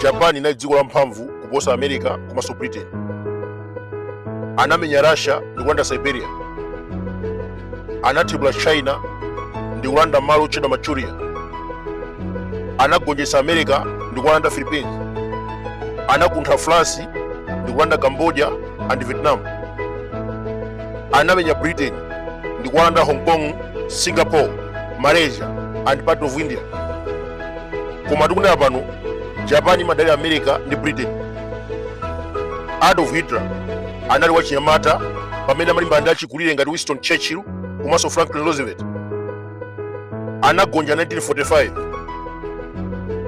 japan inali dziko lamphamvu kuposa america komanso britain anamenya russia ndi kulanda siberia anathibula china ndi kulanda malo otchedwa manchuria anagonjetsa america ndi kulanda philippines anakuntha france ndi kulanda cambodia and vietnam anamenya britain ndi kulanda hong kong singapore malaysia and part of india koma tikunena pano japan imadalira america ndi britain adolf hitler anali wachinyamata pamene amalimbana ndi achikulire ngati winston churchill komanso franklin roosevelt anagonja 1945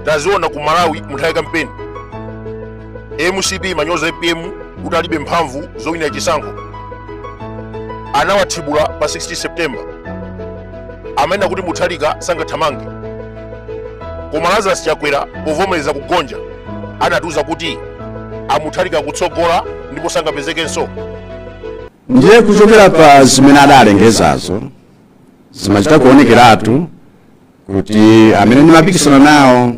taziona ku malawi munthawi ya kampeni mcp imanyoza apm kuti alibe mphamvu zowinira chisankho anawathibula pa 16 september amanena kuti mutharika sangathamange koma lazarus chakwera povomereza kugonja anatiuza kuti a mutharika atsogola ndipo sangapezekenso ndiye kuchokera pa zimene adalengezazo zimachita kuonekeratu kuti amene ndimapikisana nawo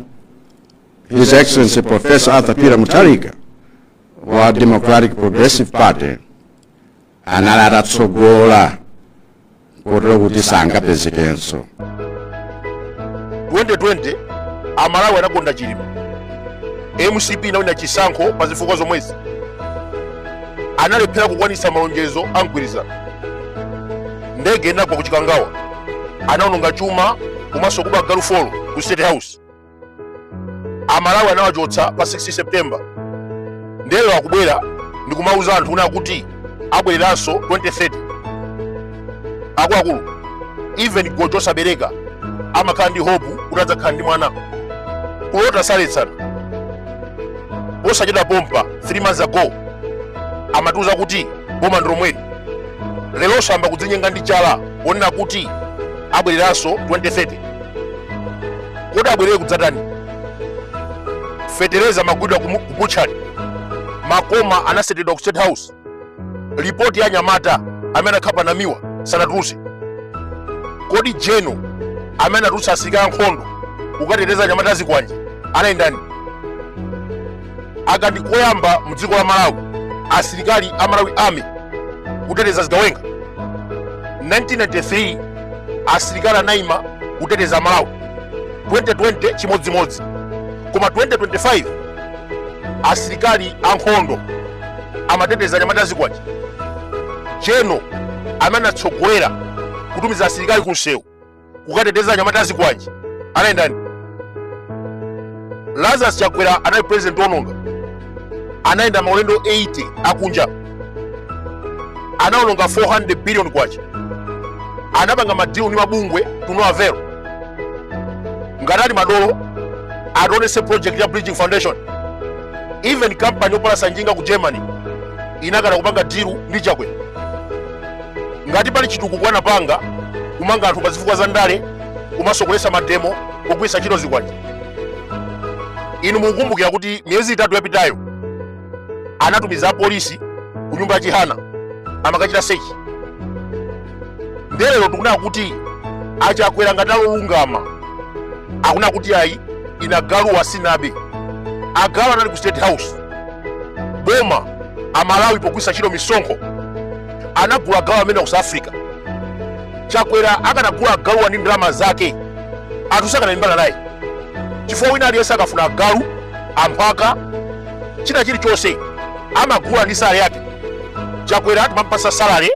his excellency professor arthur peter mutharika wa democratic progressive party anali atatsogola kotero kuti sangapezekenso 2020 amalawi anakonda chilima mcp inawina chisankho pa zifukwa zomwezi analephera kukwanitsa malonjezo a mgwirizano ndege inagwa ku chikangawa anaononga chuma komanso kuba agalu folo ku state house amalawi anawachotsa pa 16 september lero akubwera ndikumauza anthu una kuti abwereranso 2030 akuluakulu even gojo osabereka amakhala ndi hope kuti adzakhala ndi mwana kulota saletsana posachedwa pompa 3 months ago amatiuza kuti boma ndilomweli lero ayamba kudzinyenga ndi chala ponena kuti abwereranso 2030 kodi abwerere kudzatani fetereza amagulidwa ku butchery makoma anasetedwa ku state house ripoti ya anyamata amene anakhapa namiwa sanatulutse kodi general amene anatulutsa asirikali ankhondo kukateteza anyamata azikwanje anali ndani kanali koyamba mu dziko la malawi asilikali a malawi army kuteteza zigawenga 1993 asilikali anaima kuteteza malawi 2020 chimodzimodzi koma 2025 asilikali ankhondo amateteza anyamata azikwanje general amene anatsogolera kutumiza asilikali ku msewu kukateteza anyamata azikwanje anali ndani lazarus chakwera anali president ononga anayenda maulendo 80 akunja anaononga 400 billion kwacha anapanga madilu ndi mabungwe to no avail ngati ali madolo ationetse project ya bridgin foundation even company yopalasa njinga ku germany inakana kupanga dilu ndi chakwera ngati pali chitukuko anapanga kumanga anthu pa zifukwa za ndale komanso kuletsa mademo kugwiritsa ntchito zikwanje inu mukukumbukira kuti miyezi itatu yapitayo anatumiza apolisi ku nyumba ya chihana amakachita sechi nde lero tikunena kuti achakwera ngati alolungama akunena kuti ayi ine agaluwa sinabe agalu anali ku state house boma amalawi pogwisa ntchito misonkho anagula agalu amenewa ku south africa chakwera akanagula agaluwa ndi ndalama zake anthu sakanalimbana naye chifukwa wina aliyense akafuna agalu amphaka china chilichonse amagula ndi salale yake chakwera timampatsa salale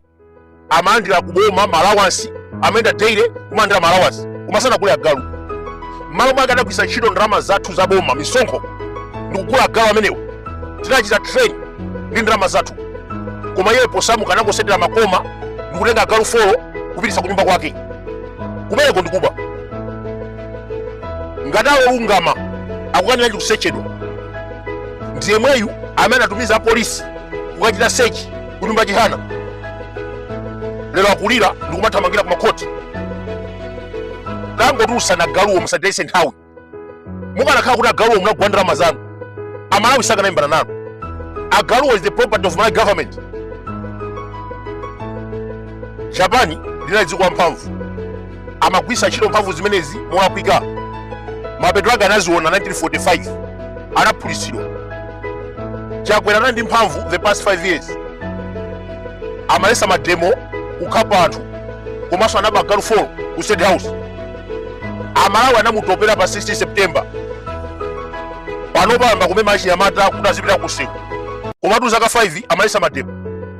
amalandira kuboma ma allowance amayenda daily kumalandira ma allowance koma sanagule agalu mmalo mwake adagwiritsa ntchito ndalama zathu za boma misonkho ndikugula agalu amenewo tinachita train ndi ndalama zathu koma iye posamuka anangosetera makoma ndikutenga agalu folo kupititsa kunyumba kwake kumeneko ndikuba ngati alolungama akukaniranji kusechedwa ndi yemweyu amene anatumiza apolisi kukachita sechi kunyumba chihana lero akulira ndikumathamangira kumakhoti tangotulutsani agaluwo musatitayitse nthawi mukanakhala kuti agaluwo munagula ndalama zanu amalawi sakanalimbana nanu agaluwo is the property of malawi government japan linali dziko lamphamvu amagwiritsa ntchito mphamvu zimenezi molakwika mapeto ake anaziona 1945 anaphulitsidwa chakwera anali ndi mphamvu the past 5 years amaletsa mademo kukhapa anthu komanso anaba agalu 4 ku state house amalawi anamutopera pa 16 september panopa ayamba kumema achinyamata kuti azipita kunsewu komatu zaka 5 amaletsa mademo